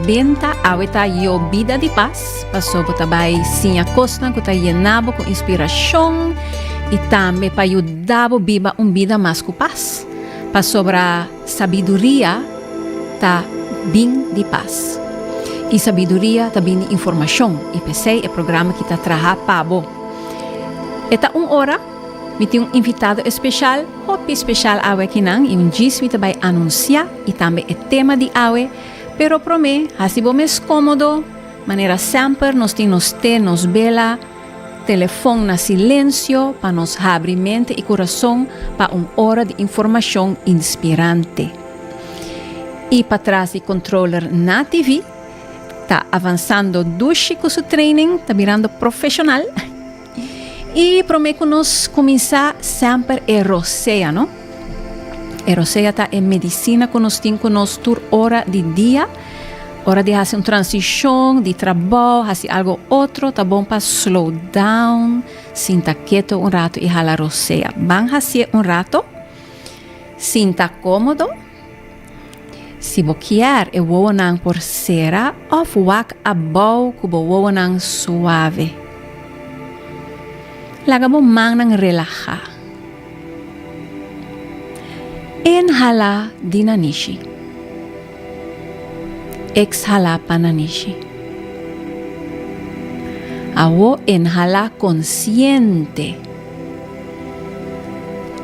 Bin ta awe ta yo bida di pas, paso bo ta bai siña kosnan ku ta yena bo ku inspirashon i tambe pa yuda bo biba un bida mas ku pas, pasobra sabiduria ta bin di pas, i sabiduria ta bin di informashon, i p'esei e programa ki ta traha pa bo. E ta un ora, mi tin un invitado espeshal, hopi speshal awe akinan, i un djis mi ta bai anunsiá, i tambe e tema di awe, Pero promé, hasi bo mes cómodo, manera semper nos tin nos té, nos bela, telefon na silencio pa nos habri mente i curason pa un ora di informacion inspirante. I patras di controller na TV, ta avansando Dushi cu su training, ta birando profesional. Y prome cu nos cuminsa semper e rosea, no? E rosea ta e medicina cu nos tin cu nos tur ora di dia. Ora di haci un transicion di trabao, haci algo otro, ta bon pa slow down, sinta keto un rato y hala rosea. Ban haci'e un rato, sinta comodo. Si bo kier e wowonan por sera of wak abou ku bo wowonan suave. Laga bo mannan relahá. Inhalá di nanishi. Ekshalá pa nanishi. Awo inhalá konsiente.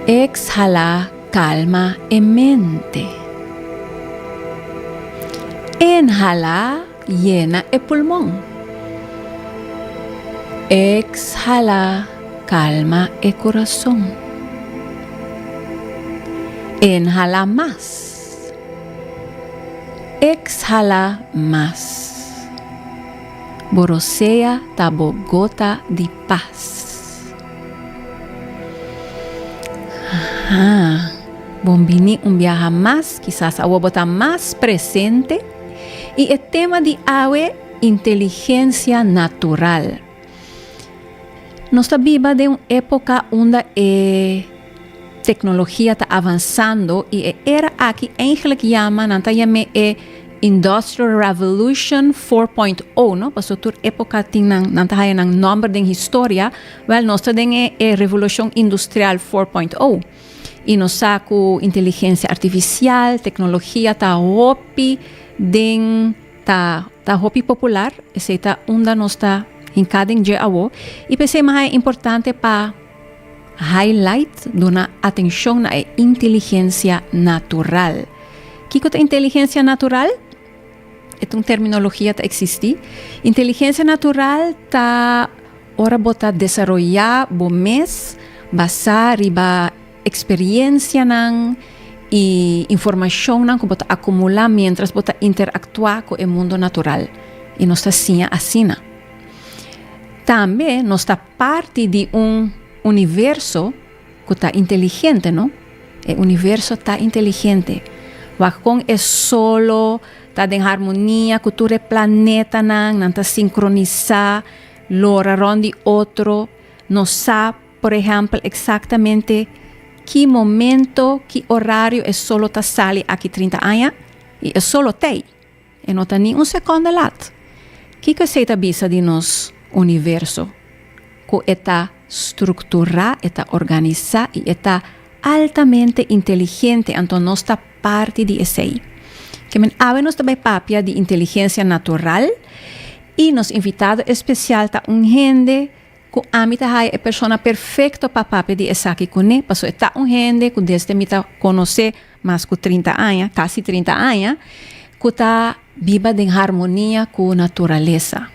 Ekshalá Kalma e mente. Inhalá yena e pulmon. Ekshalá kalma e kurason. Inhalá mas. Ekshalá mas. Bo rosea ta bo gota di. Pas. Aha. Bon bini un biaha mas, kisas awo bo ta mas presente i e tema di awe inteligensia natural. Nos ta biba den un epoka unda e teknologia ta avansando i e era aki einglek yama, nan ta yam'é e Industrial Revolution four point o no paso tur epoca tin nan nan ta haya nan nomber den historia wel nos ta den e revolucion industrial four point o y nos sa cu inteligencia artificial tecnologia ta hopi den ta ta hopi popular esey ta unda nos ta hinca den dje awo y p'esey mas a importante pa Highlight, Duna atenshon na e inteligensia natural. Kiko ta inteligensia natural? E ta un terminologia ta eksistí. Inteligensia natural ta ora bo ta desaroyá bo mes basá riba eksperiensianan i informashonnan ku bo ta akumulá miéntras bo ta interaktuá ku e mundu natural. I nos ta siña asina. Tambe nos ta Parti di un universo cu ta inteligente, no? E universo ta inteligente. Wak con e solo ta den harmonia cu tur e planetanan, nan ta sincronisa, lora rond di otro. Nos sa, por ehempel, exactamente ki momento, ki orario e solo ta sali aki trinta aña, y e solo t'ey. E no ta ni un sekondo lat. Kiko esei ta bisa di nos universo? Ku e ta strukturá, e ta organisá i e ta altamente inteligente, anto nos ta parti di esei. Ke men awe nos ta bai papia di inteligensia natural i nos invitado espesial ta un hende Ku ami ta haya e persona perfekto pa papia di esaki kuné, pasobra e ta un hende ku desde mi ta konos'é mas ku trinta aña, kasi trinta aña, ku ta biba den harmonia ku naturalesa.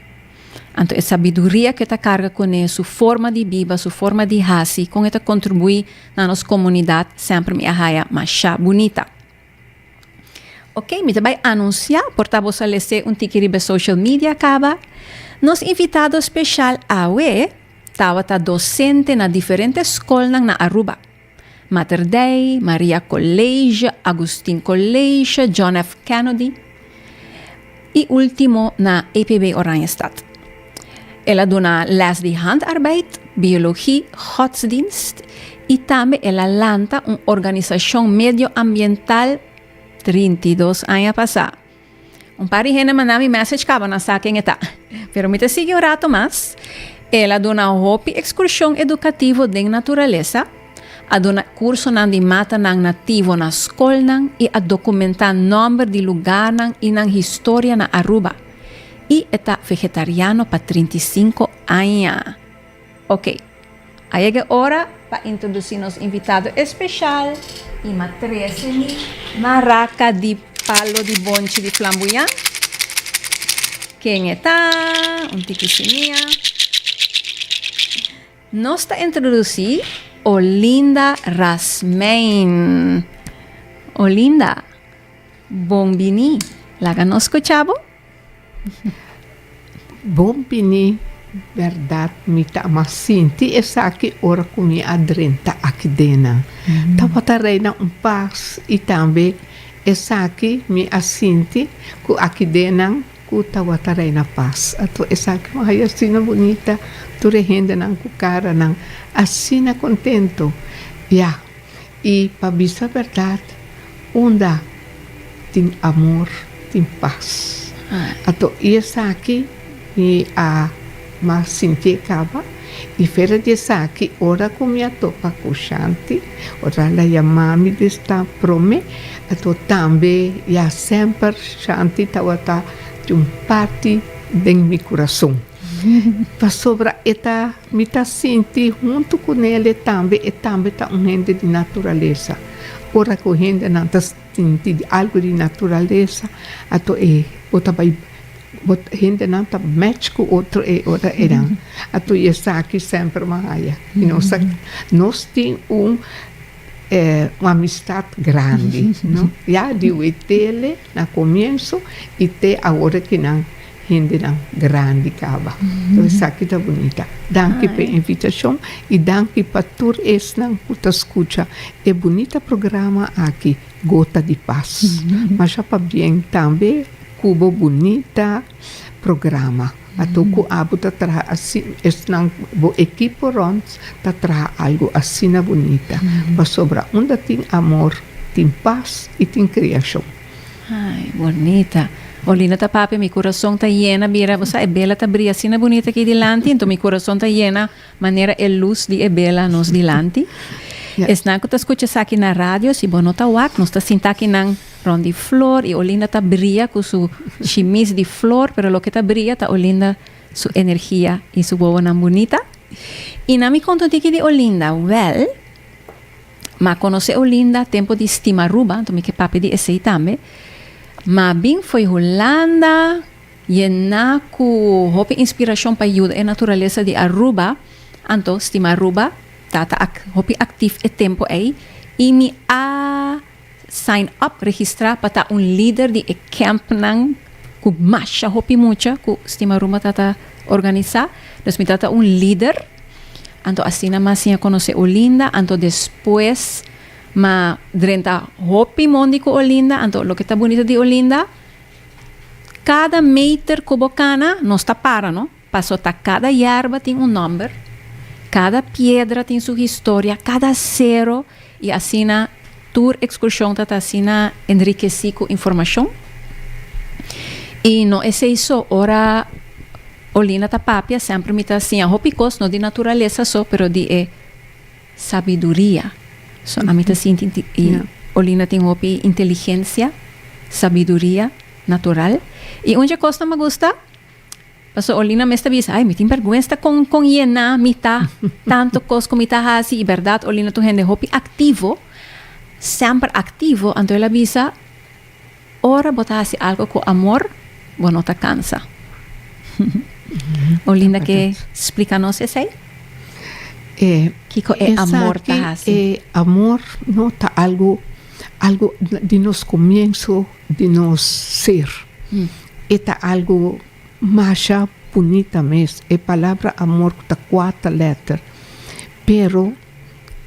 Anto e sabiduria ku e ta karga kuné, su forma di biba, su forma di hasi, kon e ta kontribuí na nos komunidat, semper mi a haya mashá bunita. Ok, mi ta bai anuncia por ta bo salese un tiki riba social media caba. Nos invitado special awe tawata docente na diferente scolnan na Aruba. Mater Dei, Maria College, Agustin College, John F. Kennedy. I ultimo na EPB Oranjestad. El a duna les di handarbeid, biologi, godsdienst i tambe el a lanta un organisashon medioambiental trinta i dos aña pasá. Un par di hende a manda mi mèsech kaba nan sa ken e ta, pero mi ta sigui un rato mas. El a duna hopi ekskurshon edukativo den naturalesa. a duna cursonan di matanan nativo na scolnan y a documenta nomber di lugarnan y nan historia na Aruba. Y e ta vegetariano pa trinta i sinku aña. Ok, a yega e ora pa introduci nos invitado especial, y m'a trece mi maraca di palo di bonchi di flambuyan. Ken e ta? Un tiki sinia. Nos ta introduci Olinda Rasmein. Olinda, bon bini. Laga nos scucha bo. Bon bini. Berdad mi ta a mas sinti esaki ora cu mi a drenta aki dena. Tabata reina un paz y tambe esaki mi a sinti cu aki dena. Ku tawata reina pas. Ato esaki lo haya asina bunita, tur e hendenan ku karanan asina kontentu. Ya, i pa bisa bèrdat, unda tin amor, tin pas. Ato i esaki mi a. Ma sin ke kaba i fera di esaki, ora ku mi a topa ku Shanti, ora el a yama mi di sta promé, ato tambe ya semper Shanti tabata di un parti den mi kurason. Pasobra e ta, mi ta sinti huntu ku nele tambe, e tambe ta un hende di naturalesa. Ora ku hendenan ta. Tin tin di algo di naturalesa ato e bo ta bai bo hendenan ta match ku otro e ora eran ato i esaki semper bo a haya i nos a nos tin un e un amistat grandi no ya di wetele na komienso i te awor e kinan Hendenan grandi caba. Lo esaki ta bunita. Danki p'e invitacion y danki pa tur esnan cu ta scucha e bunita programa aki Gota di Pas. Masha pabien tambe cu bo bunita programa. Ato cu abo ta traha asi, esnan bo ekipo rond ta traha algu asina bunita. Pasobra unda tin amor tin pas y tin creacion. Ay bonita Olinda ta papia mi curason ta yena bira bo sa e bela ta bria asina bunita aki dilanti enton mi curason ta yena manera e luz di e bela nos dilanti esnan cu ta scucha esaki na radio si bo no ta wak nos ta sinta akinan rond di flor y Olinda ta bria cu su shimis di flor pero loke ta bria ta Olinda su energia y su wowonan bunita y nan mi conto tin aki di Olinda wel Ma conoce Olinda tempo di stima Aruba, anto mi ke papia di esey tambe. Ma bin fo'i Hulanda yena cu hopi inspiracion pa yuda e naturalesa di Aruba, anto stima Aruba ta ta hopi actief e tempo ey y mi a. Sign up, registrá pa ta un lider di e kèmpnan ku masha hopi mucha ku Stima Rumba ta ta organisá. Nos mi ta ta un lider. Anto asina mas mi a konosé Olinda. Anto despues mi a drenta hopi mondi ku Olinda. Anto loke ta bunito di Olinda, kada meter ku bo kana nos ta para, no. Paso ta cada yerba tin un nomber, cada piedra tin su historia, cada cero y asina tur excursion ta ta asina enriqueci cu informacion. Y no esey so, ora Olinda ta papia semper mi ta siña hopi cos no di naturaleza so pero di e sabiduria. So ami ta sinti di y Olinda tin hopi inteligencia, sabiduria natural. Y un dje cosnan me gusta Pastor Olina mes ta bisa, ay mi tin berguensta con con yena mi ta, tanto cos cu mi ta haci, y berdad Olina tu hende hopi activo, semper activo, anto el a bisa, ora bo ta haci algo cu amor, bo no ta cansa. Olinda ke splika nos esei? Eh, Kiko e amor ta hasi? E amor no ta algo algo di nos comienzo di nos ser. E ta algu masha bunita mes, e palabra amor cu ta cuata letter, pero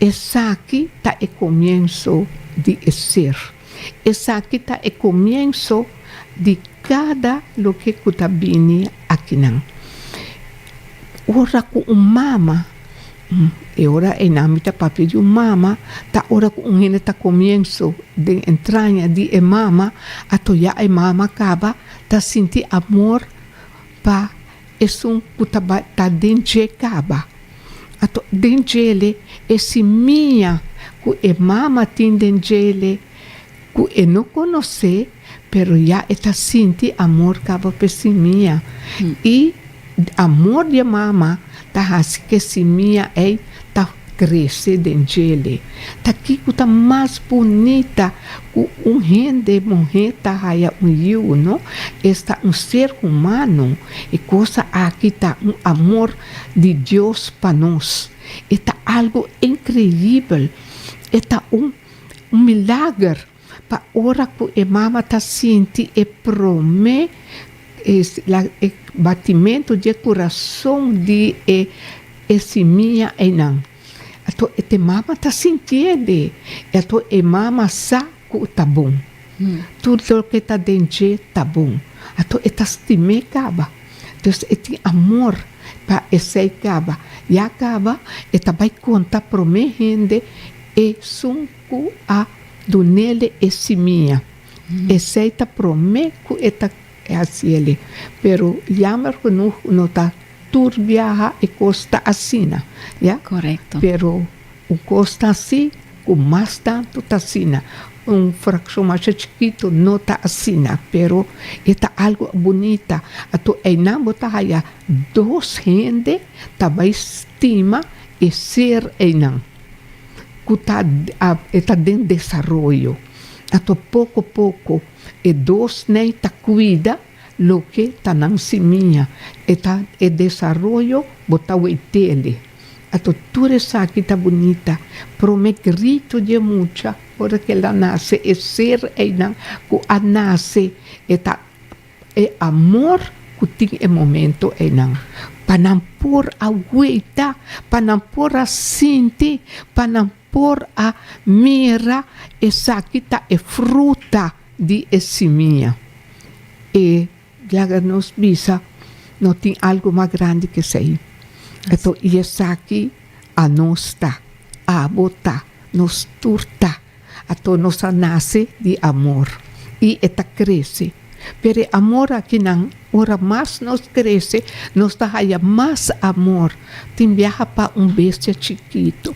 esaki ta e comienso di e ser. Esaki ta e comienso di cada loke cu ta bini akinan. Ora cu un mama. E ora einan mi ta papia di un mama, ta ora ku un hende ta komienso den entraña di e mama, ato ya e mama kaba ta sinti amor pa esun ku ta bai ta den dje kaba. Ato den djele e simia ku e mama tin den djele, Ku e no konos'é, pero ya e ta sinti amor kaba p'e simia. I amor di e mama ta hasi ku e simia ei ta krese den djel'é. Ta kiko ta mas bunita ku un hende muhé ta haya un yiu, no? Esta un ser humano. E kosa aki ta un amor di Dios pa nos. E ta algu inkreibel. E ta un Un milager pa ora ku e mama ta sinti e promé batimentu di e kurason di e e simia einan. Ato te mama ta sintiende, i ato e mama sa ku ta bon. Tur loke ta den dje ta bon. Ato e ta stim'é kaba. Entonces e tin amor pa esei kaba. Ya kaba e ta bai konta promé hende. Esun ku a dun'ele e simia, esei ta promé ku e ta hasiele. Pero yamber genuh no ta tur biaha e kos ta asina, ya. Korekto. Pero un kos ta asi ku mas tantu ta asina. Un frakshon masha chikitu no ta asina, pero e ta algu bunita. Ato einan bo ta haya dos hende ta bai stima e ser einan. ku ta e ta den desaroyo ato poko poko e dos nei ta kuida loke ta nan simia e ta e desaroyo bo ta wei tele ato tur esaki ta bunita prome grito di e mucha ora ke el a nase e ser einan ku a nase e ta. E amor ku tin e momento einan, pa nan por a gueita, pa nan por a sinti, pa nan por a mira, esaki ta e fruta di e simia. E Jagger nos bisa, No tin algu mas grandi ke esei. Ato i esaki anos ta, abo ta, nos tur ta. Ato nos a nase di amor i e ta krese. Pero e amor aki nan, ora mas nos krese, nos ta haya mas amor. Tin biaha pa un bestia chikitu,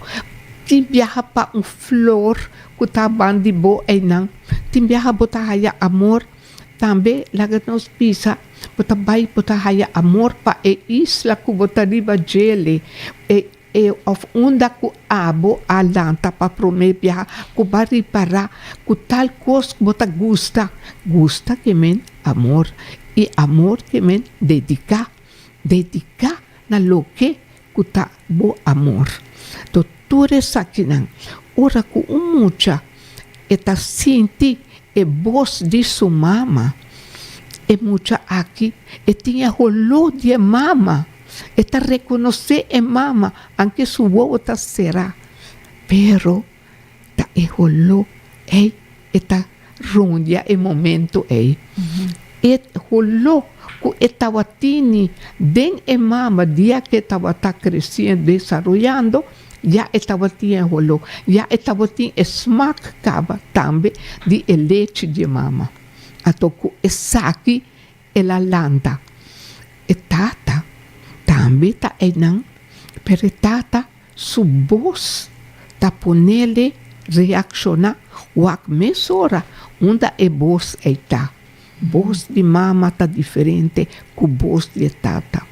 tin biaha pa un flor ku ta ban di bo einan, tin biaha bo ta haya amor. Tambe laga nos bisa, bo ta bai bo ta haya amor pa e isla ku bo ta riba djele, e. E of unda ku abo a lanta pa promé biaha ku bo a ripará ku tal kos ku bo ta gusta. Gusta ke men amor i amor ke men dediká. Dediká na loke ku ta bo amor. To tur esakinan ora ku un mucha e ta sinti e bos di su mama, e mucha aki e tin e holó di e mama. E ta rekonosé e mama anke su wowo ta será, pero ta e holó ei e ta rondia e momento ei. E holó ku e tabatini den e mama dia ku e tabata kresí en desaroyando, ya e tabatin e holó, ya e tabatin e smak kaba tambe di e lechi di e mama. Anto ku esaki El a lanta e tata, tambe ta einan, pero e tata su bos ta ponele reacciona wak mesora unda e bos ei ta. Bos di mama ta diferente cu bos di e tata.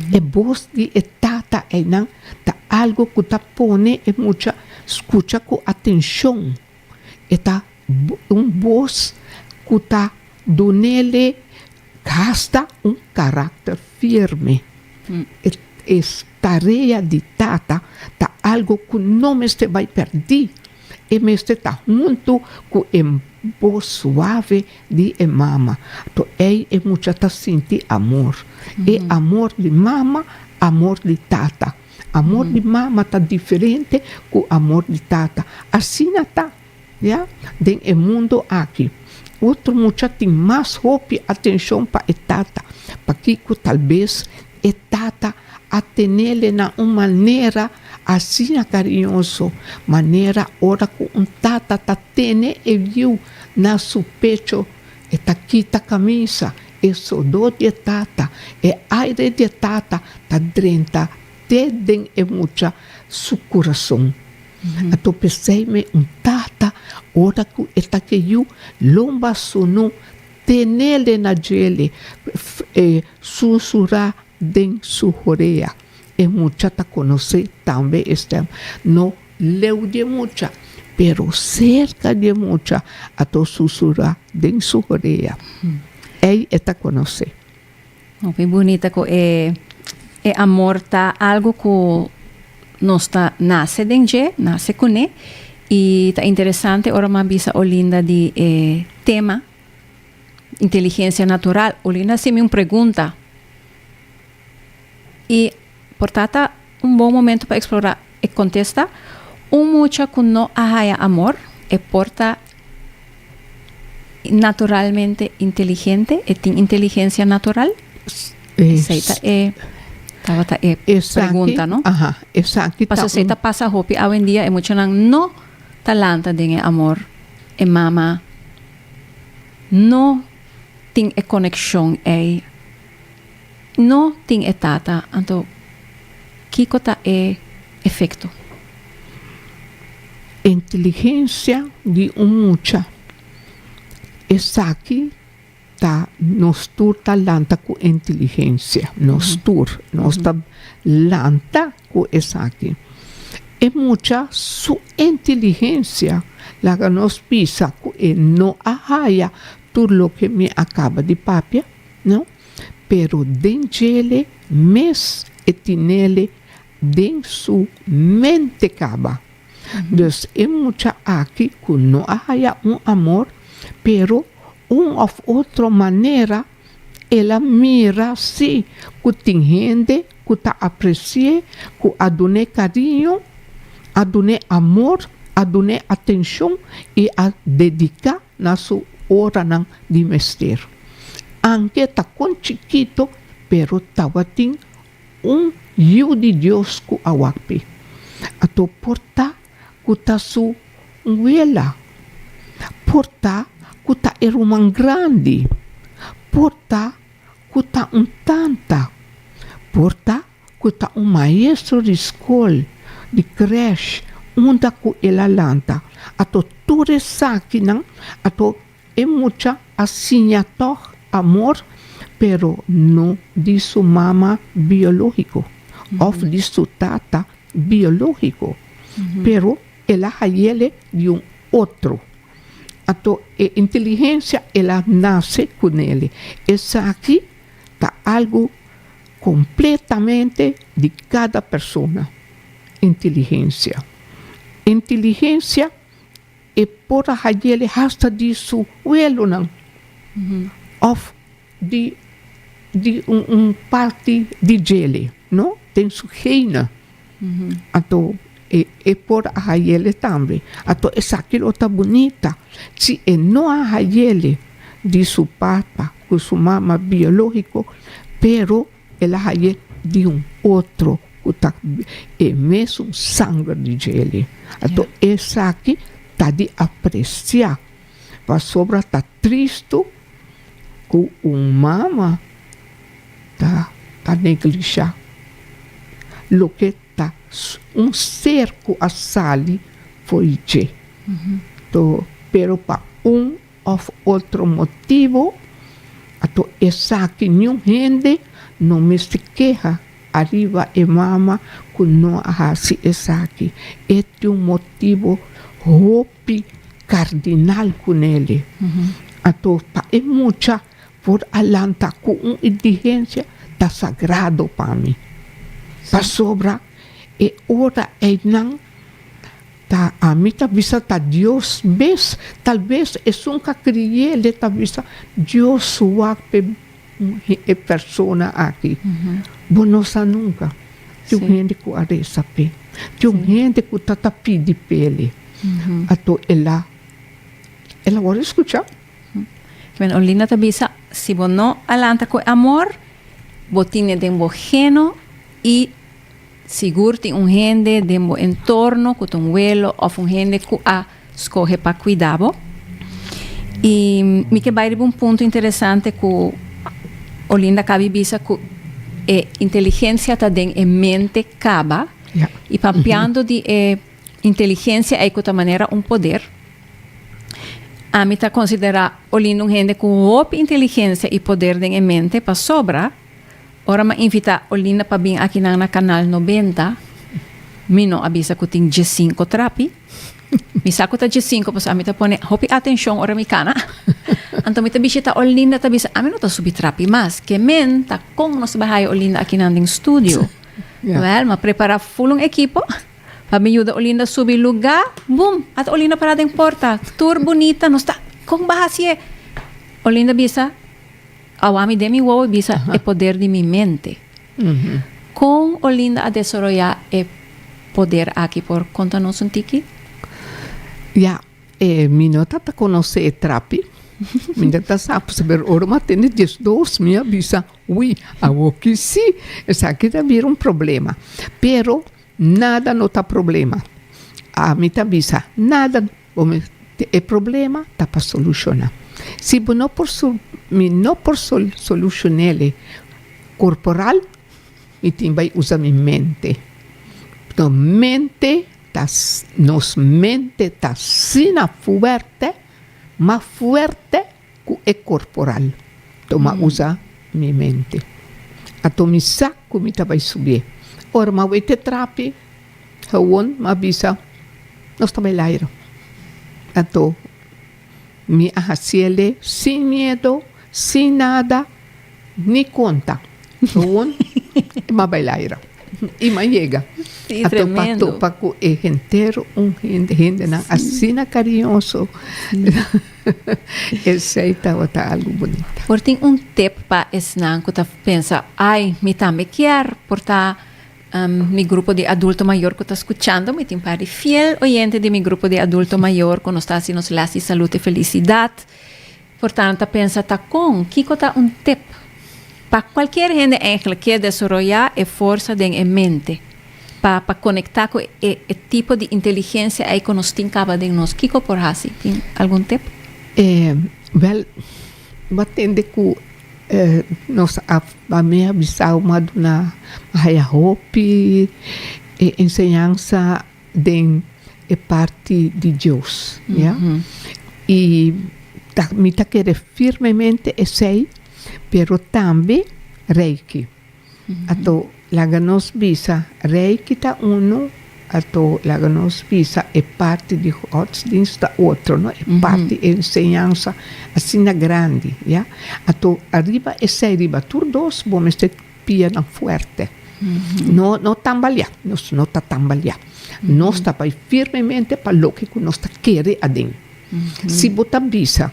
E bos di e tata einan ta algo cu ta pone e mucha scucha cu atencion. E ta Un bos ku ta dunele gasta un karakter firme. E tarea di tata ta algu ku no mester bai pèrdí, e mester ta huntu ku e bos suave di e mama. To ei e mucha ta sinti amor. E amor di mama, amor di tata. Amor di mama ta diferente ku amor di tata. Asina ta. Ya den e mundu aki, otro mucha tin mas hopi atenshon pa e tata. Pakico? Talbes e tata a tenele nan un manera asina cariñoso, manera ora cu un tata ta tene e yiu na su pecho, e ta kita camisa, e sodor di e tata, e aire di e tata ta drenta te den e mucha su curason. A ta peseyme un tata ora ku e ta ke yu lomba sunu tenele na djele e susurá den su horea. E mucha ta konosé tambe e stèm. No leu di e mucha, pero serka di e mucha a ta susurá den su horea. Ei e ta konosé. Hopi bunita ku e e amor ta algu ku nos ta nase den dje, nase kuné. I ta interesante ora mi a bisa Olinda di e tema inteligensia natural. Olinda a hasi mi un pregunta i Por ta ta un bon momento pa explora e contesta, Un mucha cu no a haya amor, e por ta naturalmente inteligente, e tin inteligencia natural? Esey ta e tabata e pregunta, no? Pasobra esey ta pasa hopi awendia, e muchanan no ta lanta den e amor, e mama no tin e coneccion ey. No tin e tata, anto kiko ta e efekto? Inteligensia di un mucha. Esaki ta nos tur ta lanta ku inteligensia. Nos tur. Nos ta lanta ku esaki. E mucha su inteligensia laga nos bisa ku e no a haya tur loke mi a kaba di papia. No, pero den djele mes e tinele den su mente caba. Dus e mucha aki cu no a haya un amor, pero un of otro manera el a mira si cu tin hende cu ta aprecie, cu a dune cariño, a dune amor, a dune atencion y a dedica. Na su oranan di mester. Anke ta kon chikito, pero tabatin un Yiu di Dios ku a wap'i. A to por ta ku ta su nguela, por ta ku ta e ruman grandi, por ta ku ta un tanta, por ta ku ta un maestro di skol, di krèsh, unda ku el a lanta ato tur esakinan, ato e mucha a siña tòg amor, pero no di su mama biológiko òf di su tata biológiko, pero el a hayele di un otro. Ato e inteligensia el a nase ku nele. Esaki ta algu. Completamente di cada persona inteligencia. Inteligencia e por a hayele hasta di su welonan of di di un parti di djele no den su gene. Anto e por a hayele tambe. Anto esaki lo ta bunita. Si e no a hayele di su papa ku su mama biológiko, pero el a haye di un otro ku ta e mesun sanger di djeli. Anto esaki ta di apresiá, pasobra ta tristu. ku un mama ta ta neglisha loke ta un ser ku a sali for dje to pero pa un òf otro motibu ato esaki niun hende no mester keha ariba e mama ku no a hasi esaki e tin un motibu hopi. Di kardinal ku Nelly a tur pa e mucha por a lanta ku un indigensia ta sagrado pa mi, pasobra e ora einan ta ami ta bisa ta Dios mes, tal ves esun ka kriye le ta bisa Dios wak pe E persona aki bo no sa nunka tin un hende ku a resa p'e tin un hende ku ta ta pidi p'e ato el a el a wòrdu skuchá. Bueno Olinda ta bisa si bo no a lanta ku e amor bo tine den bo heno i Sigur tin un hende den bo entorno ku ta un welo òf un hende ku a skohe pa kuidá bo. I mi ke bai riba un punto interesante ku Olinda kaba di bisa ku e inteligensia ta den e mente kaba i pampiando di e inteligensia ei ku ta manera un poder. Ami ta konsiderá Olinda un hende ku hopi inteligensia i poder den e mente pasobra Ora m'a invitá Olinda pa bin akinan na Canal Nobenta, mi no a bisa ku tin diessinko trapi. Mi sa ku ta diessinko pasobra mi ta pone hopi atenshon ora mi kana. Anto mi ta bishitá Olinda ta bisa ami no ta subi trapi mas. Ke men ta kon nos bai haya Olinda akinan den studio. Wèl, m'a prepará ful un ekipo pa bin yuda Olinda subi lugá. Bum! At Olinda pará den porta tur bunita. Nos ta kon bahasié? Olinda bisa. Awa mi den mi wowo bisa e poder di mi mente. Kon Olinda a desoroyá e poder aki por konta nos un tiki? Ya, mi no ta ta konosé e trapi, mi no ta sa, pero ora mi a tende diesdos mi a bisa, ui, awoki sí, esaki ta bira un problema. Pero nada no ta problema. A mi ta bisa, nada. Bo mi te e problema ta pa solushoná. Si bo no por so mi no por sol solushonéle korporal mi tin bai usa mi mente. Pto mente ta nos mente ta asina fuerte ma fuerte ku e korporal to ma usa mi mente. Ato mi sa ku mi ta bai subié ora ma wete trapi. Gewoon a bisa, Nos ta bai lairo. Anto mi a hasi el dei sin miedo, sin nada, ni konta. Gewoon mi a bai lairo. I mi a yega. Anto pa topa ku e henter, un hende, hendenan asina kariñoso. Esei tabata algu bunita. Por tin un tip pa esnan ku ta pensa, Ai, mi tambe kier por ta. Mi grupo di adulto mayor cu ta scuchando, mi tin par di fiel oyente di mi grupo di adulto mayor cu nos ta haci nos les di Salud y Felicidad. Por tanto ta pensa ta con, kico ta un tip pa cualkier hende eigenlijk kier desoroya e forsa den e mente pa pa conecta cu e e tipo di inteligencia ey cu nos tin caba den nos, kico por haci? Tin algun tip? Wel. Bo tende ku e nos a mi a bisau mi a duna a haya hopi e enseñansa den e parti di Dios ya i mi ta kere firmemente esei pero tambe Reiki. Ato laga nos bisa Rei ki ta unu, ato laga nos bisa e parti di godsdienst ta otro, no e parti e enseñansa asina grandi, ya. Ato ariba esei, riba tur dos bo mester pia nan fuerte, no no tambaleá, nos no ta tambaleá, nos ta bai firmemente pa loke ku nos ta kere aden. Si bo ta bisa.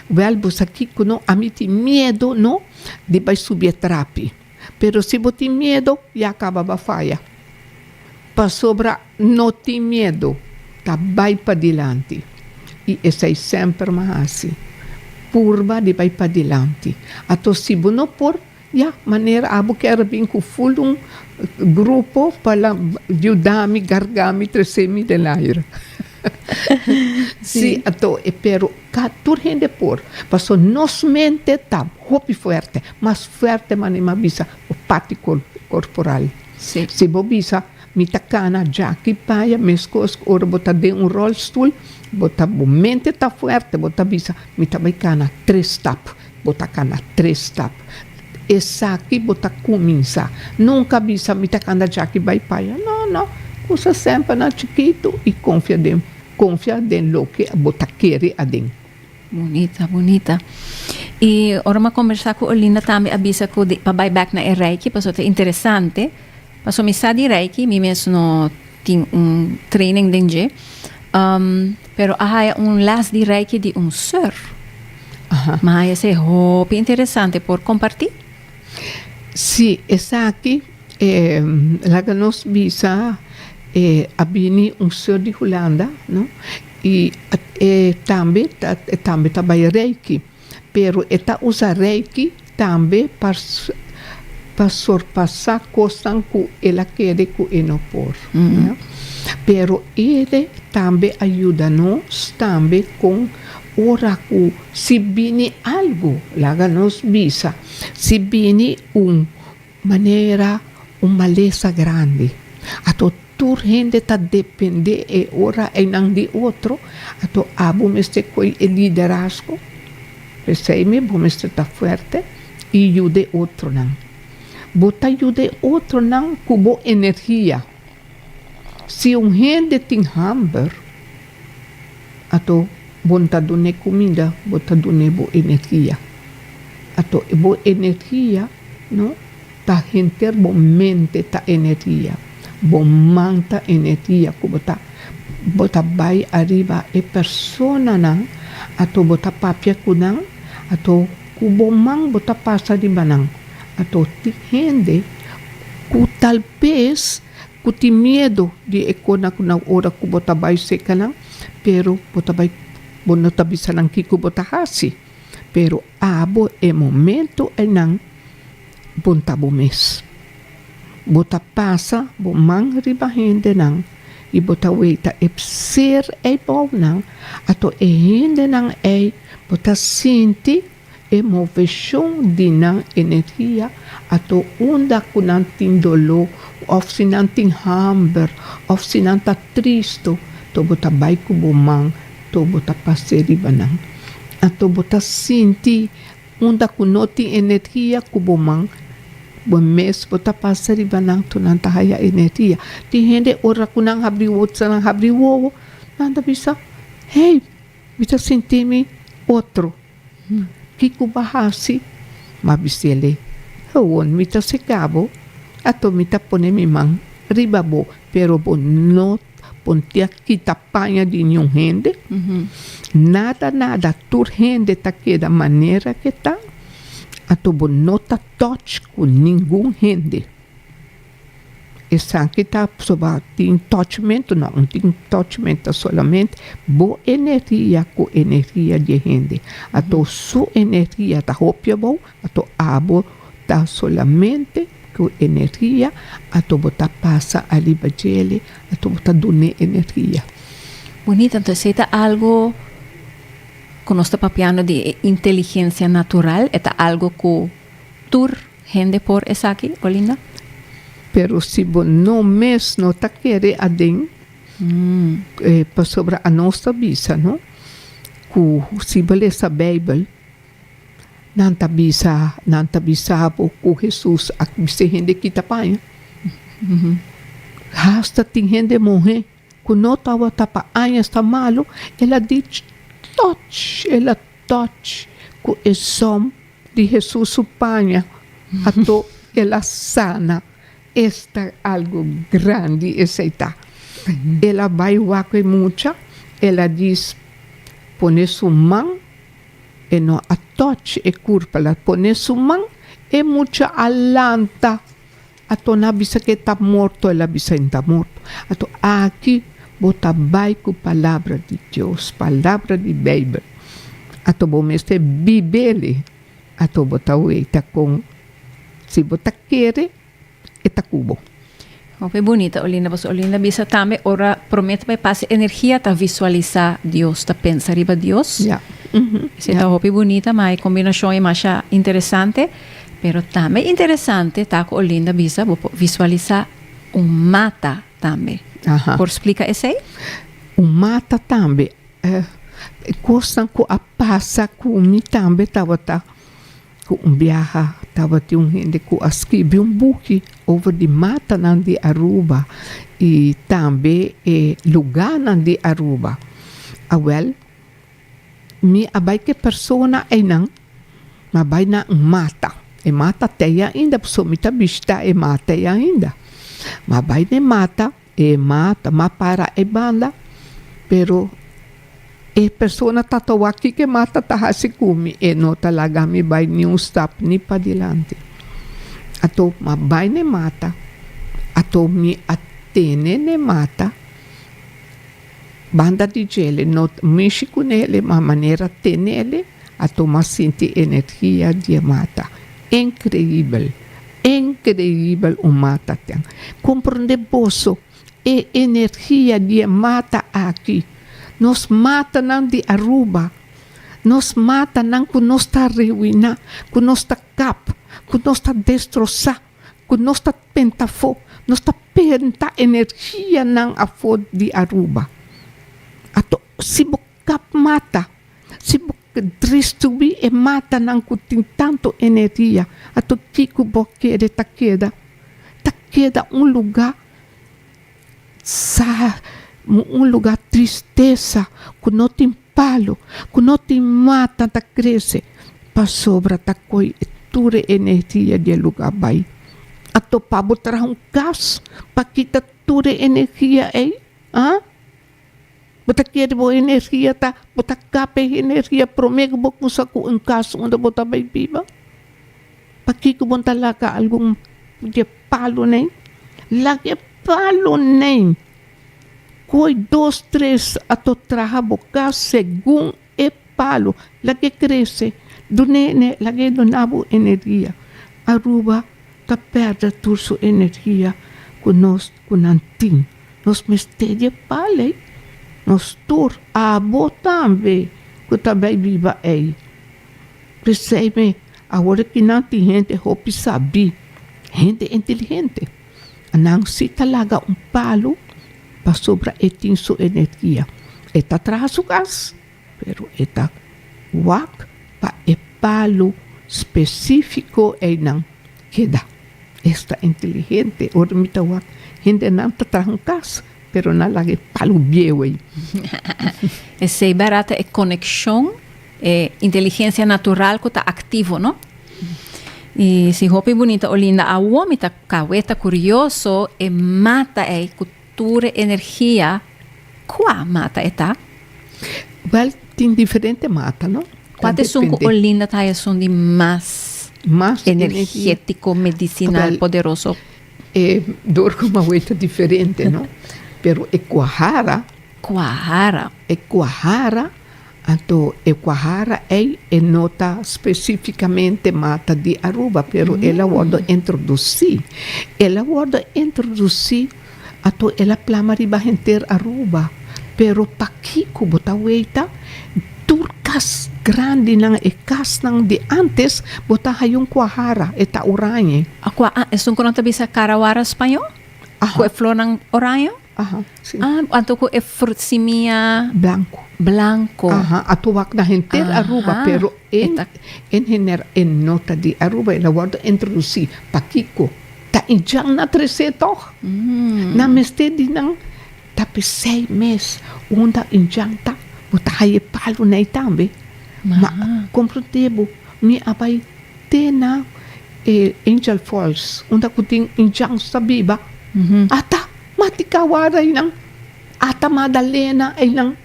Wèl bo sa kiko no a mi tin miedo no di bai subi e trapi pero si bo tin miedo ya a kaba ba faya pasobra no tin miedo ta bai padilanti i esei semper mi a hasi purba di bai padilanti ato si bo no por Ya, manera abo ker bin ku ful un grupo pa la yuda mi garga mi, tresé mi den aire. Sí, ato e pero ka tur hende por, paso nos mente ta hopi fuerte, mas fuerte manera mi a bisa bo parti korporal. Sí. Si bo bisa mi ta kana jaki paya meskos ku ora bo ta den un rolstul, bo ta bo mente ta fuerte, bo ta bisa mi ta bai kana tres stap. Bo ta cana tres stap. Esaki bo ta cuminsa. Nunca bisa mi ta cana dja aki bay paya. No, no. Cusa semper na chikitu y confia den confia den loke bo ta kere aden. Bonita, bonita. Y ora m'a combersa cu Olinda tambe a bisa cu di pa bay back na e Reiki paso ta interesante. Paso mi sa di Reiki, mi mes no. Tin un training den dje. Pero a haya un les di reiki di un sor. Mi haya esei hopi interesante. Por kompartí? Sí, esaki laga nos bisa a bini un sor di Hulanda, no, i e tambe ta bai reiki. Pero e ta usa Reiki tambe pa sorpasa kosnan ku el a kere ku e no por. Pero ede tambe a yuda nos tambe kon ora ku si bini algu, laga nos bisa, si bini un. Manera un malesa grandi. Ato tur hende ta dependé e ora einan di otro, ato abo mester koe e liderazgo. P'esei mi bo mester ta fuerte i yuda e otronan. Bo ta yuda e otronan ku bo energia. Si un hende tin hamber, ato bo no ta dun'é kumida, bo ta dun'é bo energia. Ato bo energia. No ta henter bo mente ta energia, bo man ta energia ku bo ta bo ta bai ariba e personanan ato bo ta papia ku nan ato ku bo man bo ta pasa riba nan ato tin hende ku tal bes ku tin miedo di e kosnan ku nan ora ku bo ta bai serka nan pero bo ta bai bo no ta bisa nan kiko bo ta hasi. pero abo e momento eynan bon ta bo mes. Bo ta pasa bo man riba hendenan y bo ta wey ta e p'seer ey bou nan, ato e hendenan ey bo ta sinti e moveshon di nan energia ato unda cu nan tin doló of si nan tin hamber of si nan ta tristo to bo ta bay cu bo man Tou bo ta pas'é riba nan. Anto bo ta sinti unda ku no tin energia ku bo man. Bo mes bo ta pas'é riba nan anto nan ta haya energia. Tin hende ora ku nan habri wowo, sa nan habri wowo, nan ta bisa, Hey, mi ta sinti mi otro. Kiko bo a hasi? Bo a bisel'é, Awor mi ta sekabo, anto mi ta pone mi man riba bo, pero bo no Pontia kita paña di niun hende, nada nada tur hende ta keda manera ke ta, anto bo no ta touch ku ningun hende. Esaki ta aprobá tin touchmentu? No, no tin touchmentu, ta solamente bo energia ku energia di e hende. Anto su energia ta hopi abou, Ato abo ta solamente cu energia, ato bo ta pasa ariba djele, ato bo ta dun'e energia. Bonito, entonces si ta algo cu nos ta papiando di e inteligencia natural, e ta algo cu tur hende por esaki, Olinda? Pero si bo no mes no ta kere aden, pasobra anos ta bisa no cu si bo lesa Bijbel, Nan ta bisa, nan ta bisa bo ku Hesus a kise hende ki ta paña. Hasta tin hende muhé ku no tabata pa añas ta malu, el a dich toch, el a toch ku e zòm di Hesus su paña, ato el a sana. Esta algu grandi esei ta! El a bai wak e mucha, el a dis, Pone su man. E no a touch e kurpa la pone su man e mucha a lanta a torna bisa ke ta morto el a bisa in ta morto ato aki bo ta bai ku palabra di Dios palabra di beibel ato bo mester bibeli ato bo ta weta kon si bo ta kere e ta ku bo. Hopi bunita Olinda pasobra Olinda bisa tambe ora prome ta bai pasa energia ta visualisa Dios ta pensa riba Dios esei ta hopi bunita ma e kombinashon e masha interesante pero tambe interesante ta ku Olinda bisa bo por visualisa un mata tambe por splika esei? Un mata tambe kosnan ku a pasa ku mi tambe tabata. Ku un biaha tabatin un hende ku a skibi un buki over di matanan di Aruba i tambe e lugánan di Aruba. A wèl, mi a bai ku e persona einan, mi a bai na un mata. E mata tei ainda, pasobra mi ta bishita e mata ei ainda. Mi a bai na e mata. E ma ta ma para e banda, pero e persona ta tawa kiko e ma ta ta hasi ku mi, e no ta laga mi bai ni un stap ni padilanti. Anto ma bai n'e mata, anto mi a tene n'e mata. Banda di djele no ta mishi cu nele, ma manera te nele a tuma sinti energia di e mata. Increibel! Increibel un mata ten! Comprende boso e energia di e mata aki? Nos matanan di Aruba, nos matanan cu nos ta aruina, cu nos ta kap, cu nos ta destrozá. ku nos ta tenta afó, nos ta penta energianan afó di Aruba. Ato, si bo kap mata, si bo dristruí e matanan ku tin tantu energia, ato ki ku bo kere ta keda? Ta keda un lugá sa, un lugá tristesa ku no tin Palu ku no tin mata ta krese pasobra ta koi e tur e energia di e lugá bai. A topa bo traha un gas pa kita tur e energia ei? A? Bo ta kere bo energia ta bo ta kapa e energia promé ku bo kumsa ku un gas unda bo ta bai biba? Pakiko bo no ta laga algun di e palu nei? Laga e palu nei! Cu e dos tres a to traha bo cas segun e palo, laga e crece, dune ene, laga e duna bo energia. Aruba ta perde tur su energia cu nos cu nan tin. Nos mester di e palo ey. Nos tur, abo tambe cu ta bay biba ey. P'esey mi, awor aki nan tin hende hopi sabi, hende inteligente. Nan si ta laga un palu pasobra e tin su energia. E ta traha su gas, pero e ta wak pa e palu specifico ei nan keda. Es ta inteligente. Ora mi ta wak hendenan ta traha un kas, pero nan laga e palu bieu ei. Esei barata e coneccion. E inteligencia natural cu ta activo, no? Y si hopi Bunita Olinda awor mi ta cawe ta curioso e mata ey cu tur e energia, cua mata e ta? Wel, tin diferente mata, no? Cua ta esun cu Olinda ta haya esun di mas energetico, medicinal, poderoso? E dor cu mawe ta diferente, no? Pero e cuahara. Cuahara. E cuahara. Anto e Kwahara ei e no ta spesífikamente mata di Aruba, pero el a wòrdu introdusí. El a wòrdu introdusí, anto el a plama riba henter Aruba. Pero pakiko bo ta weita tur kas grandinan, e kasnan di ántes, bo ta haya un Kwahara, e ta orañe. Akua, ah, esun ku nan ta bisa Karawara spañó, ku e flornan oraño? Aha, si. Ah, anto ku e frut simia. Blanko. Blanko. Aha, a tur wak na henter Aruba. Aha. Pero e ta. En general e no ta di Aruba, el a wòrdu introdusí. Pakiko? Ta i djang na tresé tòg. Nan mester di nan tapi seis mes unda i djang ta, bo ta haya e palu nei tambe. Ma, kompronde bo, mi a bai te na. E angel falls unda ku tin angels ta biba ata matika wara einan, ata Madalena einan,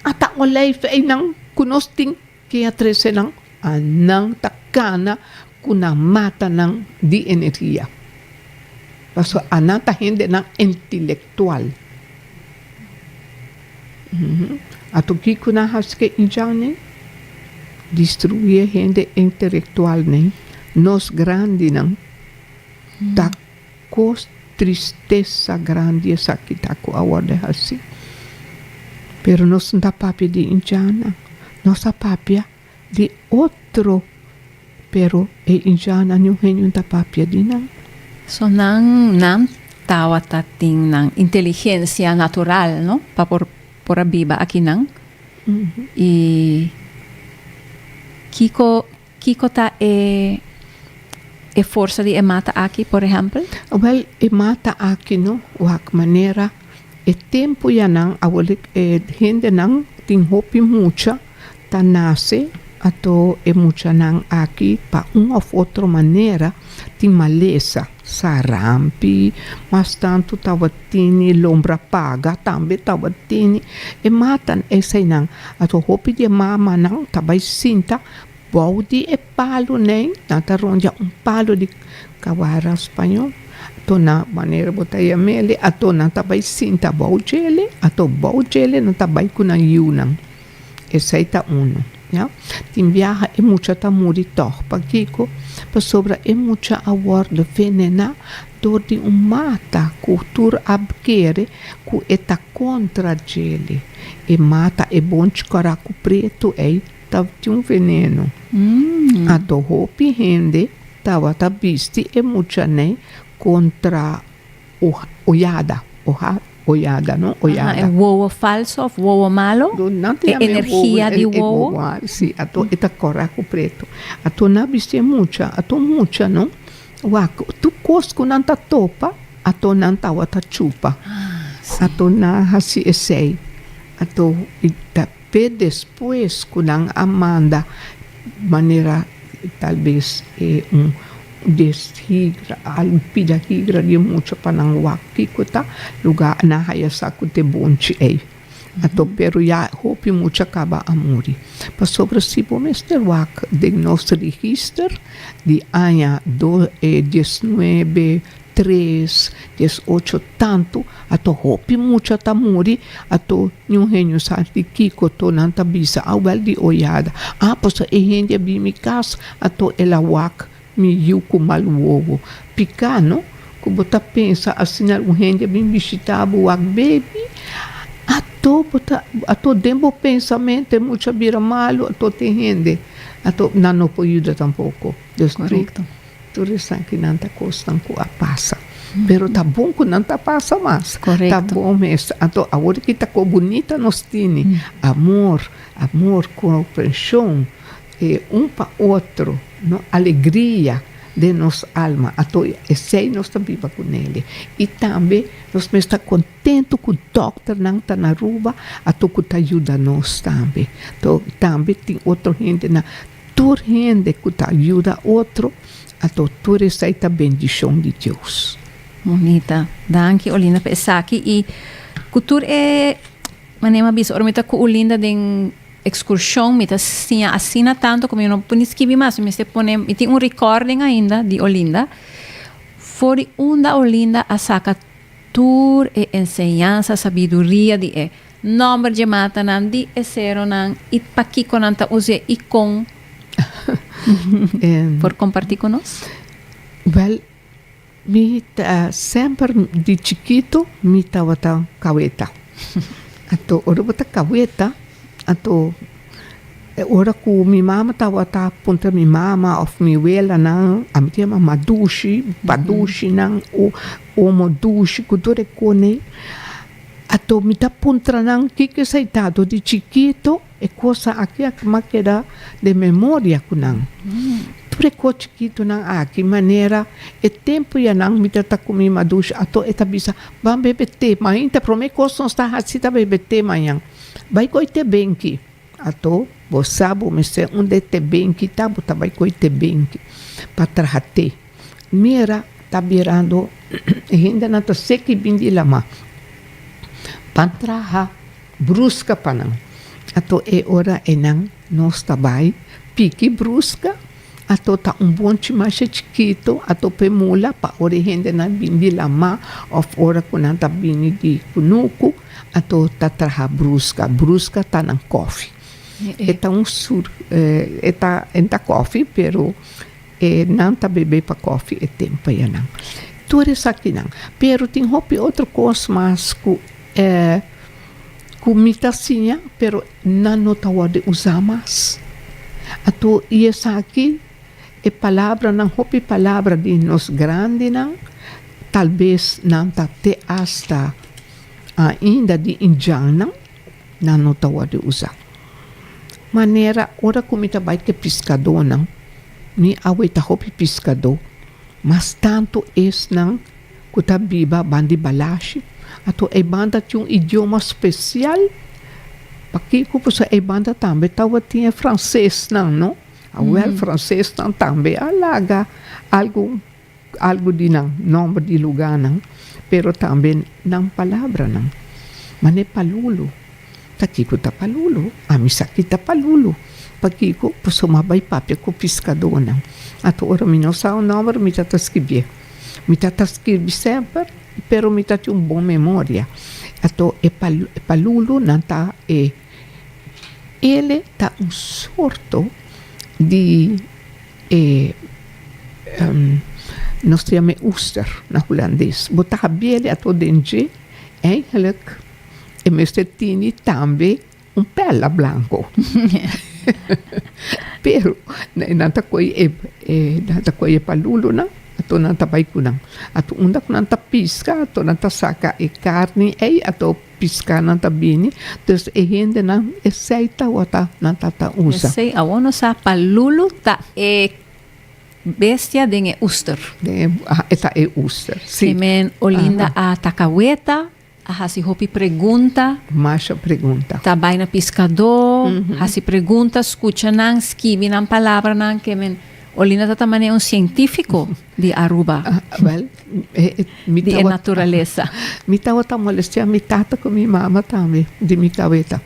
ata Olijf einan ku nos tin ke a trese nan, a nan ta kana ku nan mata nan di energia. Paso a nan ta hendenan entelektual. Ato kico nan haci ke injan'nen? Distruí e hende intelectual'nen, nos grandinan. Ta cos tristesa grandi esaki ta cu a wordo haci. Pero nos n'ta papia di injan'nan, nos a papia. Di otro, pero e Injana niun hen niun ta papia di nan. So nan nan tawata tin nan inteligencia natural no pa por por a biba akinan y kiko kiko ta e e forsa di e mata aki por ehempel? Wel e mata aki no wak manera e tempo ya nan awor e hende nan tin hopi mucha Ta nace ato e muchanan aki pa un of otro manera tin malesa, sarampi, mas tanto tabatini lombra paga tambe tabatini e matan esainan ato hopi di e mamanan ta bai sinta bou di e palo nei nan ta rondia un palo di cabara spañol ato nan manera bo ta yameli ato nan ta bai sinta bou djele ato bou djele nan ta bai cu nan yiunan. Esei ta unu. Ya. Tin biaha e mucha ta muri tòg. Pakiko? Pasobra e mucha a wòrdu venená dor di un mata ku tur a kere ku e ta kontra djeli. E mata, e bonchi koraku pretu ei, ta tin un venenu. Ando hopi hende tabata bisti e mucha nei kontra. Ollada, oha, ollada no, ollada. Aha, e wowo falso of wowo malo? No, nan ta yama e wowo. E energia di wowo? Si, ato e ta kora ku pretu. Ato nan a bisti e mucha, ato mucha no, wak, tur kos ku nan ta topa, ato nan tawa ta chupa. Ato nan hasi esei. Ato, i ta. Pe despues cu nan a manda manera tal vez e un des higra, algu pida higra di e mucha pa nan wak kico ta luga, nan haya sa cu t'e bonchi ey a to pero ya hopi mucha caba a muri. Pasobra si bo mester wak den nos register di aña do e diesnuebe Tres des ocho tantu ato hopi mucha ta muri ato niun hende sa di kiko to nan ta bisa a wel di oyada a paso e hende a bin mi kas ato el a wak mi yu ku mal wowo pika no ku bo ta pensa asina algun hende a bin bishita bo wak bebi ato bo ta ato den bo pensamentu e mucha bira malu ato te hende ato nan no por yuda tampoko des tur. Tur esnan ki nan ta kosnan ku a pasa, pero ta bon ku nan ta pasa mas. Ta bon mes. Anto awor ki ta ko bunita nos tini, amor, amor, komprenshon e un pa otro, no, alegria den nos alma. Anto esei nos ta biba ku neli. I tambe nos mester kontentu ku dòkternan ta na Aruba, anto ku ta yuda nos tambe. Tambe tin otro hendenan. Tur hende ku ta yuda otro a do tur esei ta bendishon di Dios. Bonita. Danki Olinda pa esaki i ku tur e manera mi a bisa ora mi ta ku Olinda den ekskurshon mi ta siña asina tantu ku mi no por ni skibi mas mi mester pone mi tin un rikòrding ainda di Olinda for di unda Olinda a saka tur e enseñansa sabiduria di e Nòmber dje matanan di e seronan i pakiko nan ta us'é i kon? Por kompartí ku nos? Wèl, mi ta semper di chikitu mi tabata kaweta. Anto ora bo ta kaweta, anto e ora ku mi mama tabata puntra mi mama òf mi welanan, a mi ta yama ma dushi, pa dushinan o omo dushi ku tur e kone. Ato mi ta puntra nan kiko esai tado di chikito e cosa aki a mas keda den memoria cu nan. Tur e cos chikitonan aki manera e tempo y a nan mi ta ta cu mi madush ato e ta bisa ban bebe te mainta prome cos nos ta haci ta bebe te mañan bai coy te benki. Ato, bo sa bo mester unda e teben ki ta, bo ta bai ku e teben ki pa traha te. Mira, ta birando e hendenan ta sek i bin di lama pa traha bruska pa nan. Ato e ora enan nos ta bai piki bruska. Ato ta un bonchi masha chikitu, ato p'e mula pa ora e hendenan bini di lamá òf ora ku nan ta bini di kunuku, ato ta traha bruska. Bruska ta nan kòfi. E ta un sur e ta e no ta kòfi pero e nan ta bebé pa kòfi e tempu pa ya nan. Tur esakinan. Pero tin hopi otro kos mas ku e ku mi ta siña pero. Nan no ta worde usa mas. Ato i esaki e palabra nan hopi palabra di nos grandi nan tal bes nan ta te asta ainda di indjan nan nan no ta worde usa. Manera ora ku mi ta bai te piskadó nan mi awe ta hopi piskadó mas tantu esnan. ku ta biba ban di balashi, anto e banda tin un idioma spesial, pa kiko pasobra e banda tambe tabatin e fransesnan, no? Awèl fransesnan tambe a laga algu algu di nan nòmber di lugánan, pero tambe nan palabranan. Manera e palulu, ta kiko ta palulu? Ami sa ki ta palulu, pa kiko? Pasobra mi a bai papia ku piskadonan, anto ora mi no sa un nòmber mi ta ta skibié. Mi ta ta skirbi semper, pero mi ta tin un bon memoria. Ato e palulu nan ta e. Ele ta un sorto di e nos ta yam'e oester na hulandes. Bo ta habiel ato den dje, eindelijk e mester tini tambe. Un perla blanco. Pero e nan ta koi e, e nan ta koi e palulunan, ato nan ta bai ku nan. Ato unda ku nan ta piska, ato nan ta saka e karni ei, ato piskanan ta bini. Dus e hendenan esei tawata nan ta ta usa. Esei awor nos sa palulu ta e bestia den e oester. Den e, a e ta e oester, si. Ki men Olinda a taka weta. A hasi hopi pregunta. Masha pregunta. Ta bai na piskadó, hasi pregunta, skucha nan, skibi nan palabranan ke men. Olinda ta ta manera un sientífiko di Aruba. Wèl, mi ta. Di e naturalesa. Mi tabata molestea mi tata ku mi mama tambe di mi kabeta.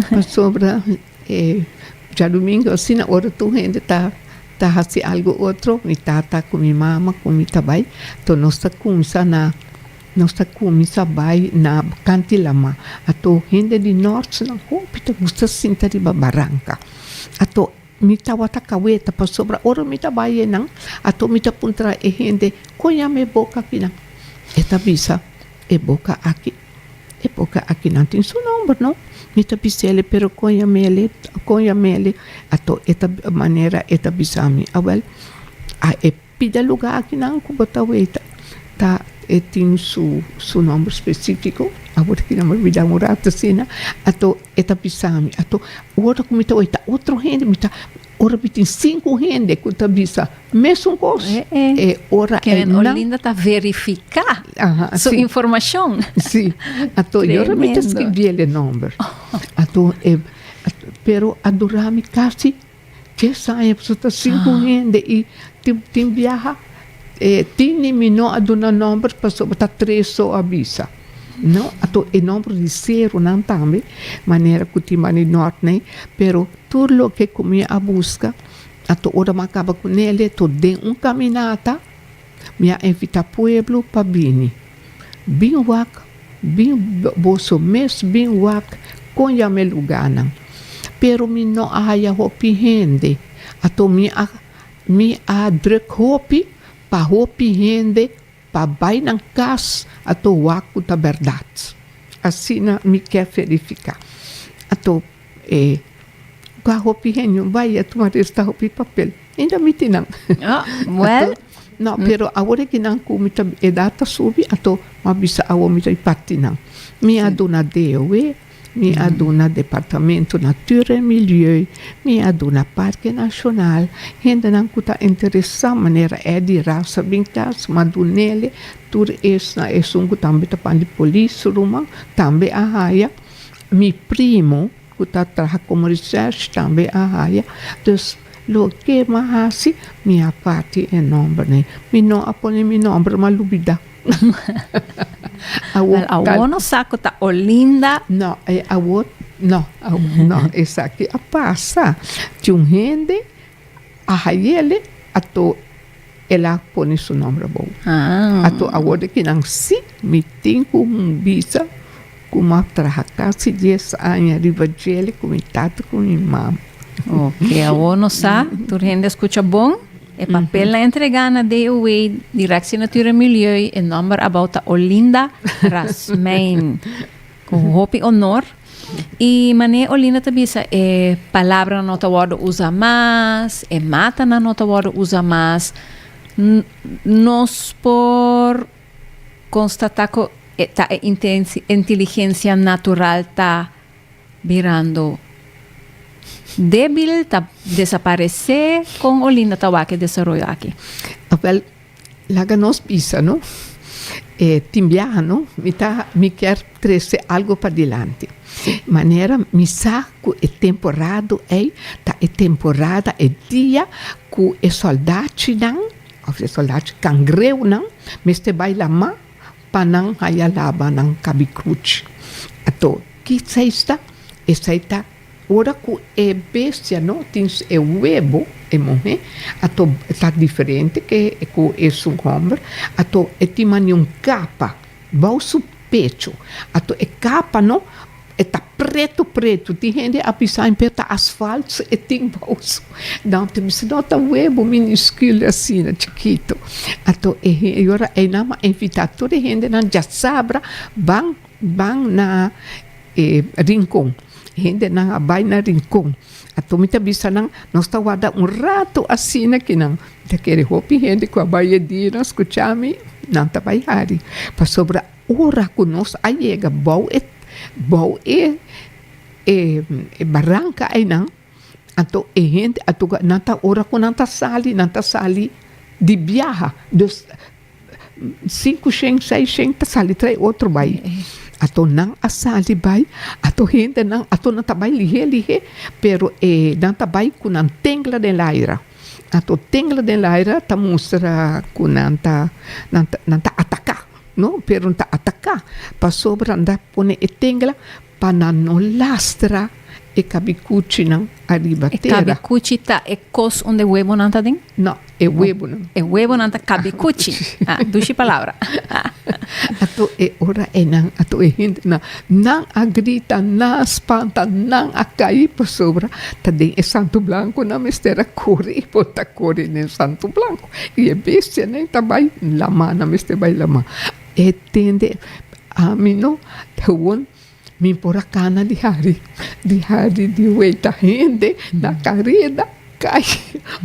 Pasobra e djadumingu asina ora tur hende ta ta hasi algu otro, mi tata ku mi mama ku mi ta bai, to nos ta kumsa na. Nos ta cuminsa bay na Cantilama. Ato hende di Norte nan hopi ta gusta sinta riba baranca. Ato mi tawata caweta pasobra ora mi ta bay enan ato mi ta puntra e hende con yama e boca akinan? E ta bisa e boca aki e boca aki nan tin su nomber no. Mi ta bisele pero con yamele con yamele ato e ta manera e ta bisa mi awel a e. Pida lugá akinan ku bo ta weta ta e tin su su nòmber spesífiko. Awor ki nan mi a bida un rat asina, ato e ta bisa mi, ato ora ku mi ta weta otro hende, mi ta ora mi tin sinku hende ku ta bisa mesun kos, e ora e nan. Keren Olinda ta verifiká su informashon. Sí, ato e ora mi ta skibiel e nòmber, ato e pero a dura mi kasi. Kes aña paso ta sigue con hende y tin biaha tin ni mi no a duna nomber pasobra ta tres so a bisa. No ato e nomber di serunan tambe manera cu tin bani nort ne pero tur loke cu mi a busca ato ora mi a caba cu nel ato den un caminata. Mi a invita pueblo pa bini. Bin wak, bin boso mes bin wak con ya me luganan. Pero mi no a haya hopi hende, ato mi a mi a druk hopi pa hopi hende pa bay nan cas ato wak cu ta berdad. Asina mi ke verifica. Ato. E ta hopi genio, bai a tuma resta hopi papel. Ainda mi tin nan. Oh, well. No, pero awor aki nan ku mi ta, edat ta subi, ato mi a bisa awor mi ta di parti nan. Mi a duna DOW, mi a duna Departamento Natuur en Milieu, mi a duna Parke Nashonal, hendenan ku ta interesá manera Eddy Rasa bin klas, mi a dun'e tur esnan, esun ku tambe ta pan di polis ruman, tambe a haya. Mi primo cu ta traha como research tambe a haya, dus loke mi a haci mi a parti e nombernan. Mi no a pone mi nomber mi a lubida. Wel, awor no sa cu ta Olinda. No, awor no, no, esaki a pasa. Tin un hende. A hayele ato el a pone su nomber abou. Ato awor di ki nan si mi tin ku bisa ku m'a traha kasi dies aña riba djele ku mi tata ku mi mama. Oke, awor no sa, tur hende a skucha bon. E papel na entregá na DOW, Direktie Natuur en Milieu, e nomber abou ta Olinda Rasmijn. Ku hopi onor. I mane Olinda ta bisa e palabranan no ta wòrdu usa mas, e matanan no ta wòrdu usa mas, nos por konstatá ku ta e inteligensia natural ta birando débil, ta desaparesé? Kon Olinda ta wak e desaroyo aki? Laga nos bisa no. E tin biaha no mi ta mi kier trese algo pa dilanti. Manera mi sa ku e temporado ei ta e temporada e dia ku e soldachinan òf e soldachi kangreunan mester bai lama pa nan haya laba nan kabikuchi. Ato ki seis ta? Esei ta. Ora ku e bestia no tin su e webo, e muhé a to ta diferente ke ku e su hòmber, a to e tin mane un kapa bou su pecho, a to e kapa no e ta pretu pretu, tin hende a bisa en pia ta asfalt su e tin bou su, nan ta bisa no ta webo miniskil asina chikitu, a to e ora einan a invitá tur e hendenan djasabra ban. Ban na e rincon. Hendenan a bai na rincon. Anto mi ta bisa nan, nos ta warda un rato asina cu nan. Mi ta kere hopi hende cu a bai e dia nan scucha mi, nan ta bai hari. Pasobra ora cu nos a yega bou e, bou e baranca eynan, anto e hende, anto nan ta, ora cu nan ta sali, nan ta sali di biaha. Dus. Sinku shen, seis shen ta sali trae otro bai. Ato nan a sali bai, ato hendenan, ato nan ta bai lihé lihé, pero e nan ta bai ku nan tengla den laira. Ato tengla den laira ta mustra ku nan ta nan ta nan ta ataká, no, pero nan ta ataká pasobra nan ta pone e tengla. Pa nan no lastra e kabicuchinan ariba tera. E kabicuchi ta e kos un de webonan ta den? No, e webonan. E webonan ta kabicuchi. Ha, dushi palabra. Ato e ora enan, ato e hindenan, nan a grita, nan a spanta, nan a kai, pasobra ta den e santu blanku nan mester a kore, i por ta kore den santu blanku. I e bestianan ta bai lamá, nan mester bai lamá. E tende ami no gewoon mi por a cana di hari di hari di weta hende na careda cay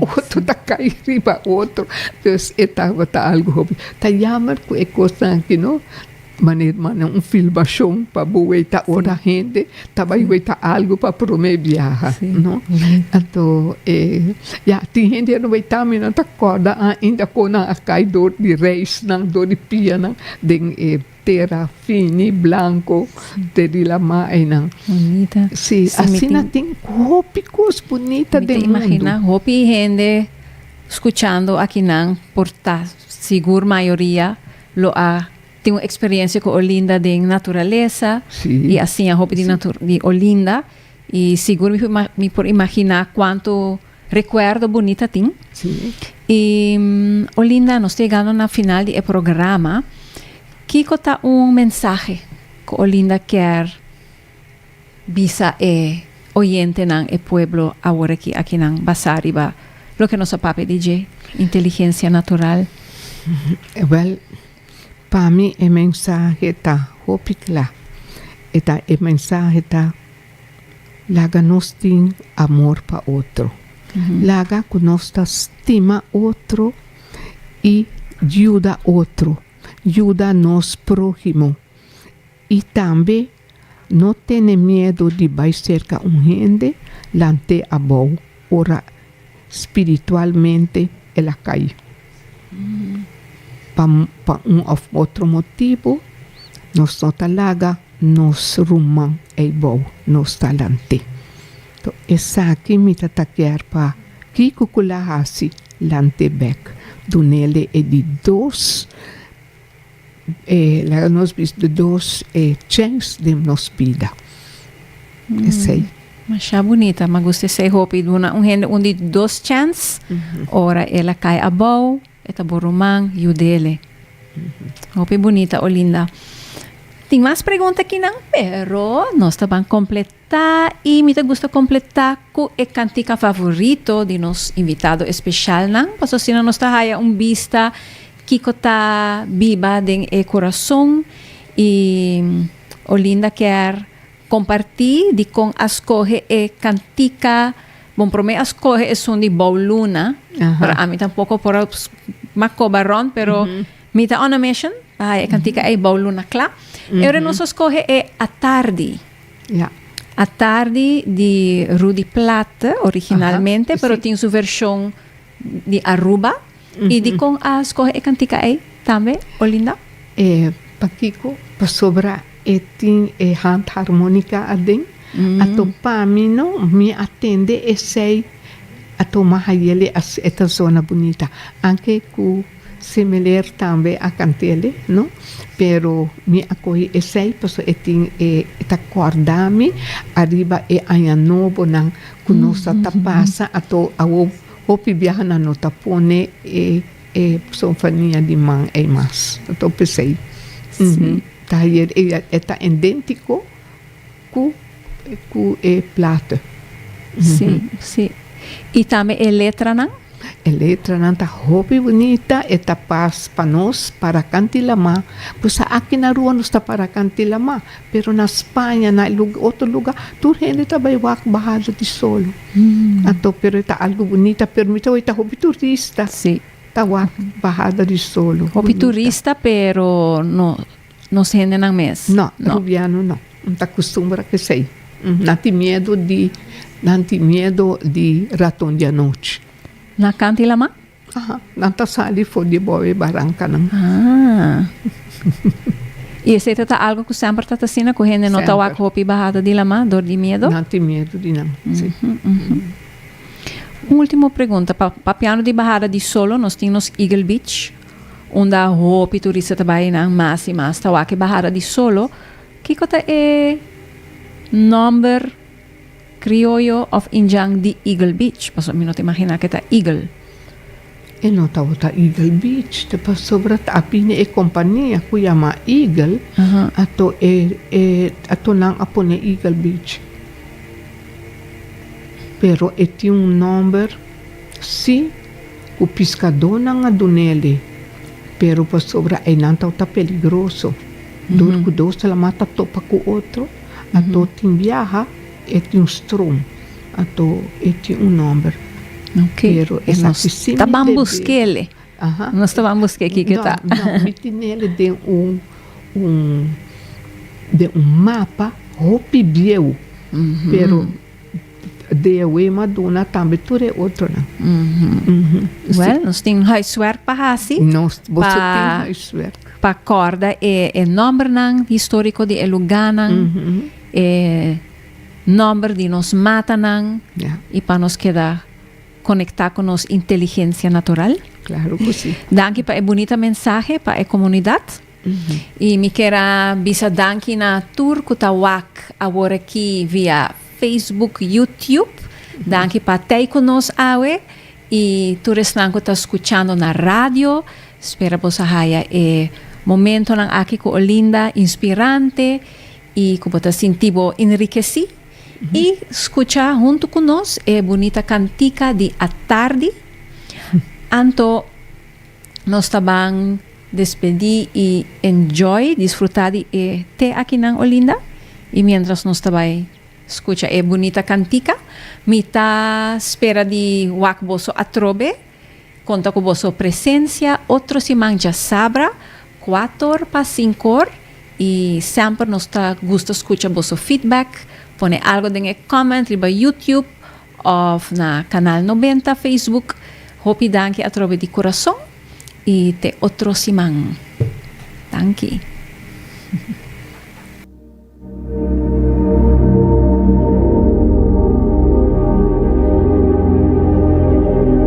otro ta cay riba otro pues e tabata algo hopi ta yamer cu e cosnan aki no manera un filmacion pa bo weta ora hende. Ta bai wey ta algo pa prome biaha no anto e ya tin hende ya no bai tan mi nan ta corda ainda con nan a cai door di reisnan door di pianan den e tera fini blanco te di lama einan si asina tin hopi cos bunita den mundo. Mi ta imagina hopi hende scuchando aki nan por ta sigur mayoria lo a Tin un experiencia cu Olinda den naturaleza y a siña hopi di di Olinda y sigur mi por mi por imagina cuanto recuerdo bunit a tin. Y Olinda nos ta yegando na final di e programa kico ta un mensahe cu Olinda kier bisa e oyentenan e pueblo awor aki aki nan basa riba loke nos a papia di dje inteligencia natural? Well. Pa mi e mensahe ta hopi kla. E ta e mensahe ta laga nos tin amor pa otro. Laga ku nos ta stima otro i yuda otro. Yuda nos próhimo i tambe. No tene miedu di bai serka un hende lant'é abou ora spiritualmente el a kai. Pa pa un òf otro motibu, nos no ta laga nos ruman ei bou, nos ta lant'é. To esaki mi ta ta kier pa kiko ku la hasi lant'é bèk, dun'é lei e di dos. laga nos bish di dos e chens den nos bida. Esei. Masha bunita, ma gusta esei hopi. Duna un hende un di dos chens, ora el a kai abou, e ta bo ruman, yudele. Hopi bunita, Olinda. Tin mas pregunta akinan, pero nos ta ban completá. Ta y mi ta gusta completa cu e cantica favorito di nos invitado especialnan, pasobra asina nos ta haya un bista kico ta biba den e corazon y Olinda kier comparti di con a scoge e cantica, bon prome a scoge esun di Bou Luna, pero ami tampoco por a maco baron, pero mi ta on a mission pa haya e cantica ey Bou Luna cla, y ora nos a scoge e Atardi, Ya. A Tardi di Rudy Plat originalmente, pero tin su version di Aruba. Y di con a scoge e cantica ey tambe, Olinda? Pakico? Pasobra e tin e handharmonica aden. Anto pa mi no, mi a tende esey, a toma haye le a ta zona bunita. Anke cu. Similer tambe a Cantele no pero mi a coge esey paso e tin e ta corda mi ariba e aña nobo nan cu nos a ta pasa ato awo hopi biaha nan no ta pone e e paso fania di man ey mas ato pesey ta hayer e ta indentico. Cu cu e plate. Si, si. Y tambe e letranan? E letranan ta hopi bunita, e ta pas pa nos para canti lama. Busa aki na rua nos ta para canti lama, pero na Spaña, na otro lugar, tur hende ta bay wak bahado di sol. Anto, pero e ta algu bunita, pero mi ta hopi ta hopi turista ta wak bahada di sol. Hopi turista, pero no. Nos hendenan mes? No, rubiano no. Nan ta custumbra cu esey. Nan tin miedo di, nan tin miedo di raton di anochi. Na canta y lama? Aha. Nan ta sali for di boe barancanan. Ah. Y esey ta ta algo cu semper ta ta asina cu hende no ta wak Semper. hopi bahada di lama dor di miedo? Nan tin miedo di nan, si. Un ultimo pregunta. Pa, papiando di bahada di solo, nos tin nos Eagle Beach. Unda hopi turista ta bai nan mas y mas ta wak e bahada di solo, kiko ta e nomber crioyo of Indian di Eagle Beach? Pasobra mi no ta imagina ke ta Eagle. E no tabata Eagle Beach ta pasobra ta bini e compania cu yama Eagle ato e e ato nan a pone Eagle Beach. Pero e tin un nomber si. Ku piskadónan a dun'el'i, pero pasobra einan tau ta peligroso, dor ku dos ta lamá ta topa ku otro, ato tin biaha, e tin un strom, ato e tin un nòmber. Pero e la ku sin mi deb'é. Aha. Nos ta ban busk'é kiko ta. No, no, mi tin'el'i den un, un, den un mapa hopi bieu, pero. Di e wee ma duna tambe tur e otronan. Wel, nos tin huiswerk pa hasi. Nos, boso tin Pa- huiswerk. Pa kòrda e, e nòmbernan históriko di e lugánan, e nòmber di nos matanan, Ja, i pa nos keda konektá ku nos inteligensia natural. klaro ku si. Danki pa e bunita mensahe pa e komunidat. Y mi kier a bisa danki na tur cu ta wak awor aki via Facebook, YouTube. Danki pa tey cu nos awe y tur esnan cu ta scuchando na radio. Spera boso a haya e momentonan aki cu Olinda inspirante y cu bo ta sinti bo enrikesí. Y scucha hunto cu nos e bunita cantica di atardi. Anto. Nos ta ban despedí i enjoy disfrutá di e te akinan Olinda. I miéntras nos ta bai skucha e bunita kantika, mi ta spera di wak boso atrobe. Konta ku boso presensia otro siman djasabra kuator pa sinkor. I semper nos ta gusta skucha boso feedback. Pone algu den e comment riba YouTube. Of na Canal Nobenta Facebook. Hopi danki atrobe di corazon y te otro siman. Danki.